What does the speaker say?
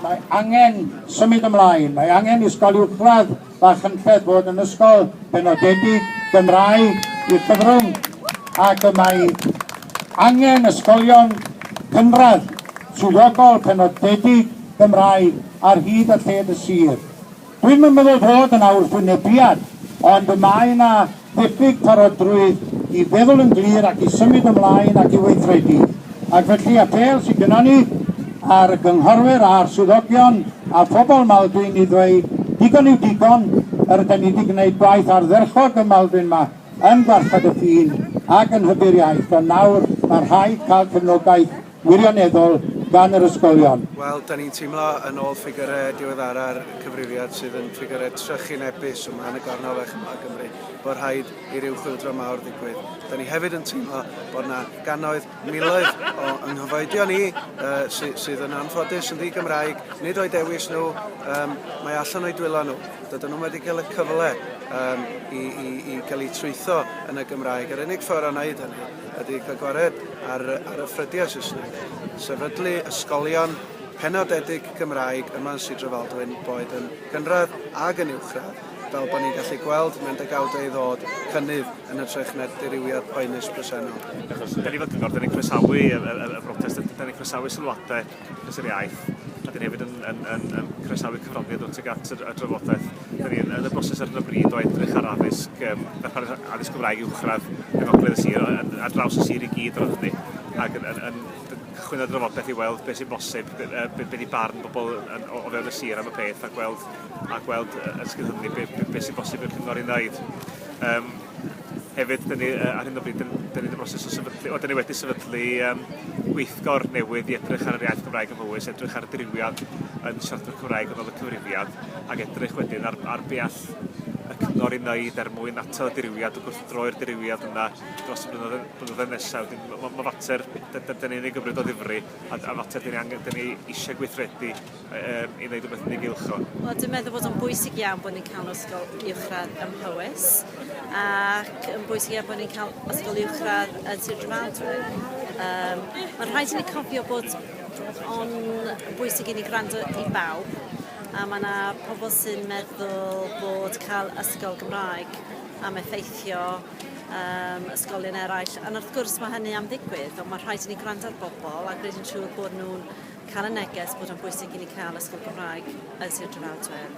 Mae angen symud ymlaen, mae angen ysgol uwchradd Machynlleth fod yn ysgol benodedig Gymraeg i'r Llyfrwng ac y mae angen ysgolion cynradd swyddogol penodedig Gymraeg ar hyd a lled y sir. Dwi'm yn meddwl fod yna wrthwynebiad ond y mae yna Diffyg parodrwydd i feddwl yn glir ac i symud ymlaen ac i weithredu, ac felly apêl sydd gynnon ni ar y gynghorwyr a'r swyddogion a phobl Maldwyn i ddweud digon yw digon, yr ydan ni 'di gwneud gwaith ardderchog ym Maldwyn 'ma yn gwarchod y ffin ac yn hybu'r iaith, ond nawr mae'n rhaid cael cefnogaeth. wirioneddol gan yr ysgolion. Wel, 'da ni'n teimlo, yn ôl ffigyrau diweddara'r Cyfrifiad, sydd yn ffigyrau trychinebus ym Mhen y Gornel Fechan yma yng Nghymru, bod rhaid i ryw chwyldro mawr ddigwydd. 'Da ni hefyd yn teimlo bod 'na gannoedd, miloedd o yng nghyfoedion ni yy sydd yn anffodus yn ddi-Gymraeg, nid o'u dewis nhw, yym, mae allan o'u dwylo nhw. Dydyn nhw'm wedi cael y cyfle yym i i i gael eu trwytho yn y Gymraeg. Yr unig ffordd o wneud hynny ydy cael gwared ar ar y ffrydiau Saesneg, sefydlu ysgolion penodedig Gymraeg yma yn Sir Drefaldwyn, boed yn gynradd ag yn uwchradd, fel bod ni'n gallu gweld mewn degawdau i ddod, cynnydd yn hytrach na'r dirywiad poenus presennol. Achos fel cyngor, 'da ni'n croesawu y y y brotest, 'da ni'n croesawu sylwadau. Mister Iaith. A dyn ni hefyd yn yn yn yn croesawu cyfraniad nw tuag at yr y drafodaeth. Dyn ni yn yn y broses ar hyn o bryd o edrych ar addysg yym darpar a- addysg Gymraeg uwchradd yng ngogledd y sir o- yn ar draws y sir i gyd roedd hynny ag yn yn yn d- cychwyn ar drafodaeth i weld beth sy'n bosib b- yy be' be' 'di barn bobol yn o o fewn y sir am y peth a gweld a gweld yy yn sgil hynny be' be' be' sy'n bosib i'r cyngor i neud. Yym. Hefyd, dyn ni, ar hyn o bryd, dyn, dyn ni'n y broses o sefydlu, o, dyn ni wedi sefydlu um, gweithgor newydd i edrych ar yr iaith Gymraeg yn fywys, edrych ar y driwiad yn siaradwyr Cymraeg yn ôl y cyfrifiad, ac edrych wedyn ar, ar be all y cyngor i wneud er mwyn atal y diriwiad o gwrthdroi'r diriwiad yna dros y blynyddoedd nesaf. Mae ma fater, dyn ni'n ei gymryd o ddifri, a, a fater dyn ni, angen, dyn ni eisiau gweithredu i ddeud rhywbeth yn ei gylch o? Wel, dwi'n meddwl bod o'n bwysig iawn bod ni'n cael ysgol uwchradd ym Mhowys ac yn bwysig iawn bod ni'n cael ysgol uwchradd yn Sir Drefaldwyn. Um, Mae'n rhaid i ni cofio bod o'n bwysig i ni gwrando i bawb a mae yna pobl sy'n meddwl bod cael ysgol Gymraeg am effeithio um, ysgolion eraill. Ond wrth gwrs mae hynny am ddigwydd, ond mae rhaid i ni gwrando ar bobl a gwneud yn siŵr bod nhw'n cael y neges bod o'n bwysig i ni cael ysgol Gymraeg yn Sir Drefaldwyn.